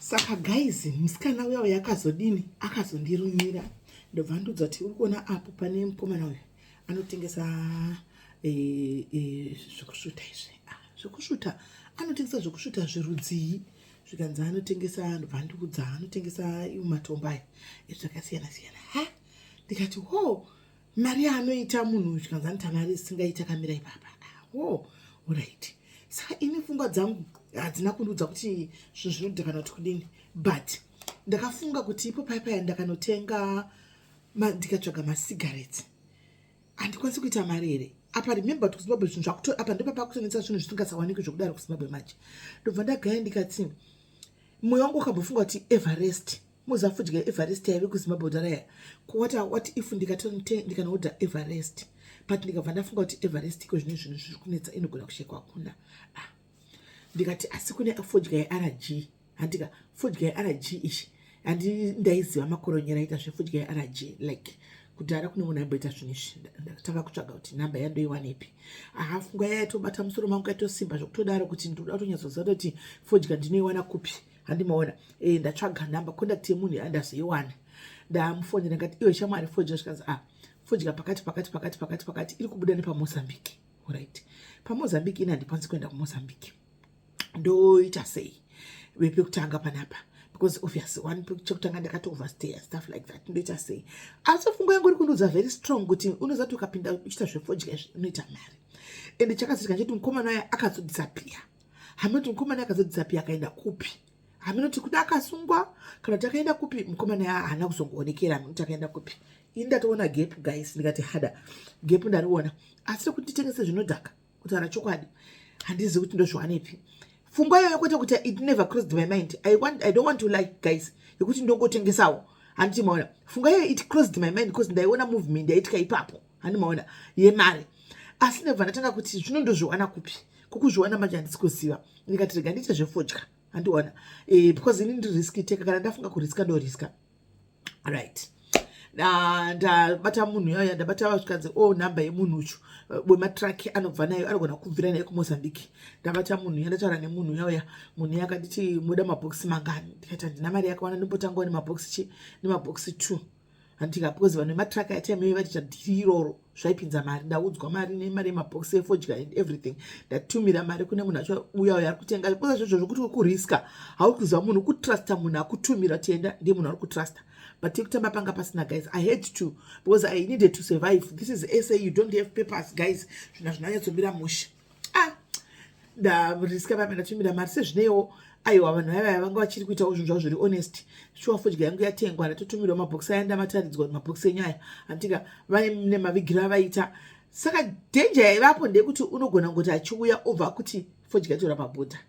saka guys musikana uya uya akazodini akazondirumira ndobva ndudzwa kuti uri kuona apo pane mukomana uyu anotengesa e, e, zvekusvuta izvi ah, zvekusvuta anotengesa zvekusvuta zvirudzii zvikanzi anotengesa ndobva ndikudza anotengesa matombo aya ezvakasiyana siyana ha ndikati ho mari yaanoita munhu uyu chikanzi anoti mari isingaiti akamira ipapa wo oh, orit saka ini fungwa dzangu hadzina kundiudza kuti zvinhu zvinodida kana kuti kudini but ndakafunga kuti ipo pai paya ndakanotenga ndikatsvaga masigarets handikwanisi kuita mari here apa remember kuti kuzimbabwe zvinhu zvakuto apa ndopapakutonetsa zvinhu zvisingasawaniki zvekudaro kuzimbabwe manje ndobva ndagaya ndikati moyo wangu wakambofunga kuti everest muza fudya everest yaive kuzimbabwe daraya kuwata what if ndikatonote ndikanoodha everest but ndikabva ndafunga kuti everest iko zvine zvinhu zviri kunetsa inogona kushekwa hakuna ah. ndikati asi kune fudya yerg handika fudya yerg ichi handi ndaiziva makoronyera aita zvefudya yerg like kudhara kune munhu aimboita zvinhu izvi ndakatanga kutsvaga kuti namba yandoiwanepi aha funga yayatobata musoro mangu kaitosimba zvokutodaro kuti ndinoda kutonyatsoziva kuti fodya ndinoiwana kupi handi maona eh ndatsvaga number contact yemunhu yandazoiwana ndamufonera ngati iwe shamwari fodya zvikanzi ah fodya pakati pakati pakati pakati pakati iri kubuda nepamozambique right pamozambique ini handikwanisi kuenda kumozambique ndoita sei vepekutanga panapa because obviously one chekutanga ndakato overstay and stuff like that ndoita sei asi fungo yangu iri kundiudza very strong kuti unozati ukapinda uchita zvefodya izvi unoita mari and chakazotika cheti mukomana aya akazodisappear hameno kuti mukomana akazadzisa pi akaenda kupi hameno kuti kuda akasungwa kana kuti akaenda kupi mukomana haana kuzongoonekera hameno kuti akaenda kupi ini ndatoona gepu guys ndikati hada gepu ndariona asi rekuti nditengese zvinodhaka kutaura chokwadi handizivi kuti ndozviwanepi fungwa iyoyo kwete kuti it never crossed my mind I, want, i don't want to like guys yekuti ndongotengesawo handiti maona funga iyoyo it crossed my mind because ndaiona movement yaitya ipapo hani maona yemari asi nebva ndatanga kuti zvino ndozviwana kupi kukuzviwana manje handisi kuziva ndikati rega ndiite zvefodya handiona eh, because ini ndiriski teka kana ndafunga kuriska ndoriska right ndabata munhu yaya ndabata vasvikanzi o oh, number yemunhu uchu wematruck eh, anobva nayo anogona kubvira nayo kumozambique ndabata munhu ya ndataura nemunhu yauya munhu ya akanditi moda mabhokisi mangani ndikaita ndina mari yakawana ndimbotangawo nemabhokisi chi nemabhokisi two handitika because vanhu vematraka yataimei vaticha dhiri iroro zvaipinza mari ndaudzwa mari nemari yemabhokisi efodya and everything ndatumira mari kune munhu acho uya uya ari kutenga because zvozvo zvokuti uri kuriska hauri kuziva munhu kutrusta munhu akutumira tienda ndiye munhu ari kutrusta but tekutamba panga pasina guys i had to because i needed to survive this is sa you don't have papers guys zvina zvinanyatsomira musha ah ndariska vamwe ndatumira mari sezvineiwo aiwa vanhu vaiva vanga vachiri kuitawo zvinhu zvavo zviri honest shuwa fodya yangu yatengwa ndatotumirwa mabhokisi aya ndamataridzwa mabhokisi enyaya handitika vaine mavigiro avaita saka dhenja yaivapo ndeyekuti unogona kungoti achiuya obva kuti fodya tora mabhodha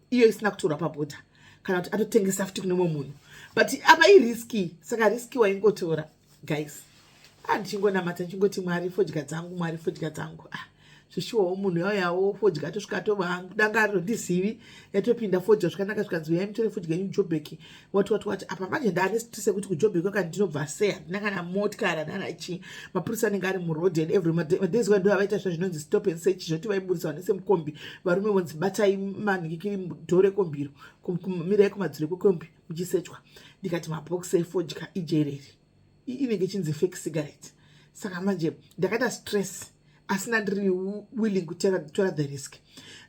iyo isina kutorwa pabhodha kana kuti atotengesa futi kune mumwe munhu but apa iriski saka riski waingotora guys a ah, ndichingonamata ndichingoti mwari fodya dzangu mwari fodya dzangu ah zvishuwawo munhu yauyawo fodya atosvika atova hangu danga aritondizivi yatopinda fodya zvakanaka zvikanzi uyai mutore fodya yenyu jobeki wati wati wati apa manje ndaane stress yekuti kujobheki kwakati ndinobva sei handina kana motikari handina kana chii mapurisa anenge ari muroad and every madays wa ndoa vaita zva zvinonzi stop and search zvoti vaiburitsa vanese mukombi varume vonzi batai manhikikiri dhoo rekombiro mirai kumadziro kwekombi muchisechwa ndikati mabhokisi efodya ijereri inenge chinzi fake cigarette saka manje ndakaita stress asina ndiri willing kutora the risk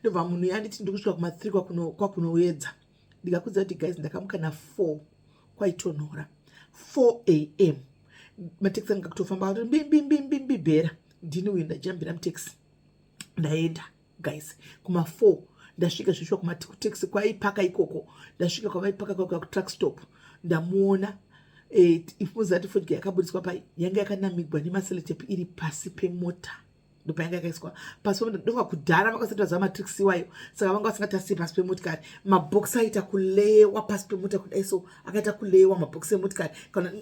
ndobva munhu yanditi ndikusvika kumathree kwakunoedza ndikakudza kuti guys ndakamuka na 4 kwaitonhora 4 am mateksi anga kutofamba ati mbimbimbimbi bhera ndini uyu ndajambira muteksi ndaenda guys kuma 4 ndasvika zvishuwa kumateksi kwaipaka ikoko ndasvika kwavaipaka kwaka kutruck stop ndamuona eh, ifunza ati fodya yakaburitswa pai yanga yakanamigwa nemaselotep iri pasi pemota ndopainge yakaiswa pasi pemota ndonga kudhara vakasati vaziva matrix iwayo saka vanga vasingatarisi pasi pemotikari mabhokisi aita kuleyewa pasi pemota kudai so akaita kuleyewa mabhokisi emotikari kana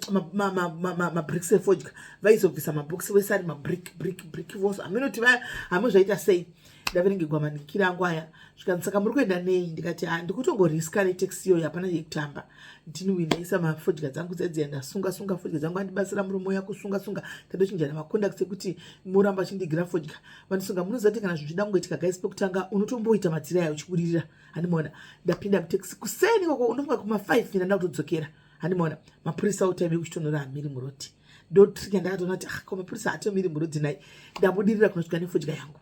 mabricks efodya vaizobvisa mabhokisi vese ari mabrick brick brick vose haminoti vaya hamwe zvaita sei ndavenenge gwamanikira angu aya zvikanzi saka muri kuenda nei ndikati ha ndikutongoriska netaxi iyoyo hapana yekutamba ndinwi ndaisa mafodya dzangu dzedziya ndasunga sunga fodya dzangu andibatsira murume uya kusunga sunga tadochinjana maconduct ekuti muramba achindigira fodya vanosunga munozati kana zvinhu zvida kungoitika guys pekutanga unotomboita matira yayo uchibudirira handimaona ndapinda mutaxi kuseni koko unofunga kuma five ina ndakutodzokera handimaona mapurisa otaive kuchitonora hamiri muroti ndotrika ndakatoona kuti ah, ko mapurisa atomiri muroti nai ndabudirira kunosvika nefodya yangu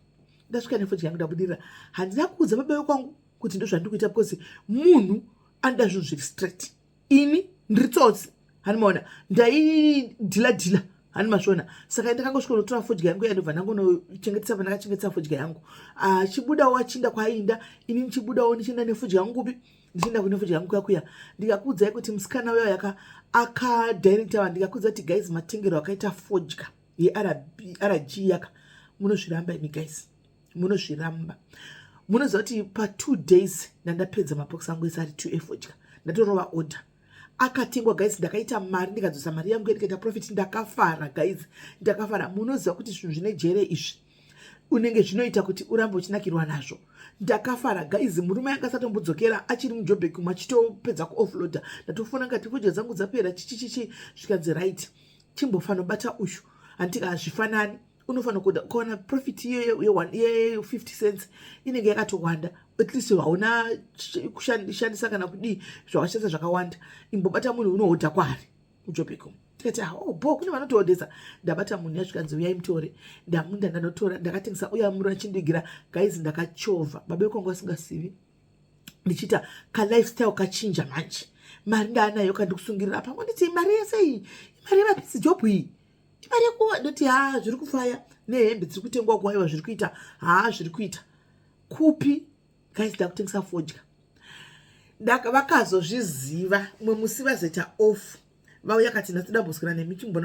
ndasvika nefodya yangu ndabudirira handina kuudza baba vekwangu kuti ndozvandiri kuita because munhu anoda zvinhu zviri straight ini ndiri tsotsi hani maona ndaidhila dhila hani masvona saka ndakangosvikonotora fodya yangu yandobva ndangonochengetesa vandakachengetesa fodya yangu achibudawo ah, achinda kwaainda ini ndichibudawo ndichienda nefodya yangu kupi ndichienda kune fodya yangu kuyakuya ndikakuudzai kuti musikana uyo yaka akadirecta vanhu ndikakuudza kuti guys matengero akaita fodya yerg yaka munozviramba imi guys munozviramba munoziva kuti patwo days ndandapedza mapox angu ese ari two efodya ndatorova order akatengwa guys ndakaita mari ndikadzosa mari yangu ndikaita profit ndakafara guys ndakafara munoziva kuti zvinhu zvine jere izvi unenge zvinoita kuti urambe uchinakirwa nazvo ndakafara guys murume yanga asatombodzokera achiri mujobek umwe achitopedza kuoffloader ndatofona ngati fodya dzangu dzapera chichichichi zvikanzi right chimbofanobata uyu handika hazvifanani unofanira kuda ukawana profit ye50 cents inenge yakatowanda at least hauna kushandisa kana kudii zvawashandisa zvakawanda imbobata munhu unohodha kwaari ujobeko tikati ah, oh, bo kune vanotoodesa ndabata munhu yasvikanzi uyai mutore ndamunda ndanotora ndakatengesa uya muro achindigira gaizi ndakachovha babe kwangu asingasivi ndichiita kalifestyle kachinja manje mari ndaanayo kandikusungirira pamwe nditi mari yese iyi mari yemapisi jobhu iyi imari yakuwa ndoti haa zviri kufaya nehembe dziri kutengwa kuwaiwa zviri kuita haa zviri kuita kupi guys ndakutengesa fodya vakazozviziva mwe musi vazoita off vauya kati ndatidamboswera nemi chimbona